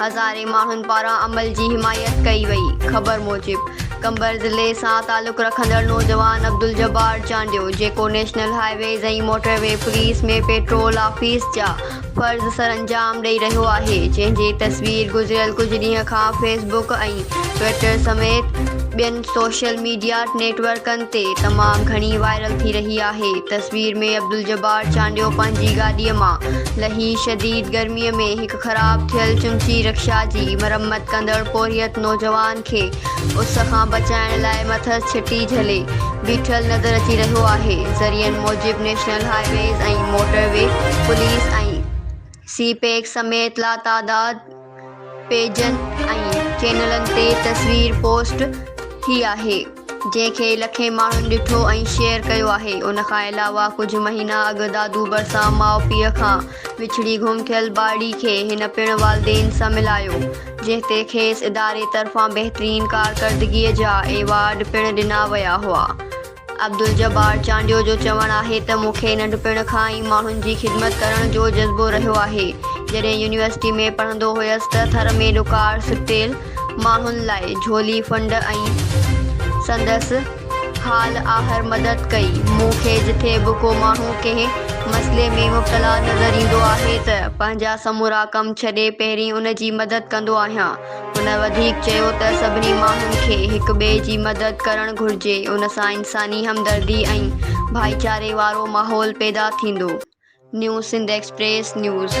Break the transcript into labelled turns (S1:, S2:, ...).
S1: هزارين ماڻهن پاران عمل جي حمايت ڪئي وئي. خبر موجب قمبر ضلعي سان تعلق رکندڙ نوجوان عبدالجبار چانڊيو جيڪو national highways ۽ motorway police ۾ patrol office جا فرض سرانجام ڏئي رهيو آهي جنهن جي تصوير گذريل ڪجهه ڏينهن کان فيس بڪ ۽ ٽوئيٽر سميت ٻين سوشل ميڊيا نيٽ ورڪن تي تمام گهڻي وائرل ٿي رهي آهي تصوير ۾ عبدالجبار چانڊيو پنهنجي گاڏي مان لهي شديد گرمي ۾ هڪ خراب ٿيل چمچي رڪشا جي مرمت ڪندڙ پورهيت نوجوان کي اس کان بچائڻ لاء مٿس ڇٽي جهلي بيٺل نظر اچي رهيو آهي ذريعن موجب national highways ۽ motorway police ۽ CPEC سميت لاتعداد پيجن ۽ چينلن تي تصوير پوسٽ ٿي آهي جنهن کي لکين ماڻهن ڏٺو ۽ شيئر ڪيو آهي ان کان علاوه ڪجهه مهينا اڳ دادو ڀرسان ماء پيء کان وڇڙي گم ٿيل ٻارڙي کي هن پڻ والدين سان ملايو جنهن تي کيس اداري طرفان بهترين ڪارڪردگي جا ايوارڊ پڻ ڏنا ويا هئا عبدالجبار چانڊيو جو چوڻ آهي ته مون کي ننڍپڻ کان ئي ماڻهن جي خدمت ڪرڻ جو جذبو رهيو آهي جڏهن يونيورسٽي ۾ پڙهندو هيس ته ٿر ۾ ڏڪار سٽيل ماڻهن لاء جھولي فنڊ ۽ سندس حال آهر مدد ڪئي. مون کي جٿي به ڪو ماڻهو ڪنهن مسئلي ۾ مبتلا نظر ايندو آهي ته پنهنجا سمورا ڪم ڇڏي پهرين ان جي مدد ڪندو آهيان. هن وڌيڪ چيو ته سڀني ماڻهن کي هڪ ٻئي جي مدد ڪرڻ گھرجي ان سان انساني همدردي ۽ ڀائيچاري وارو ماحول پيدا ٿيندو. New Sindh express news.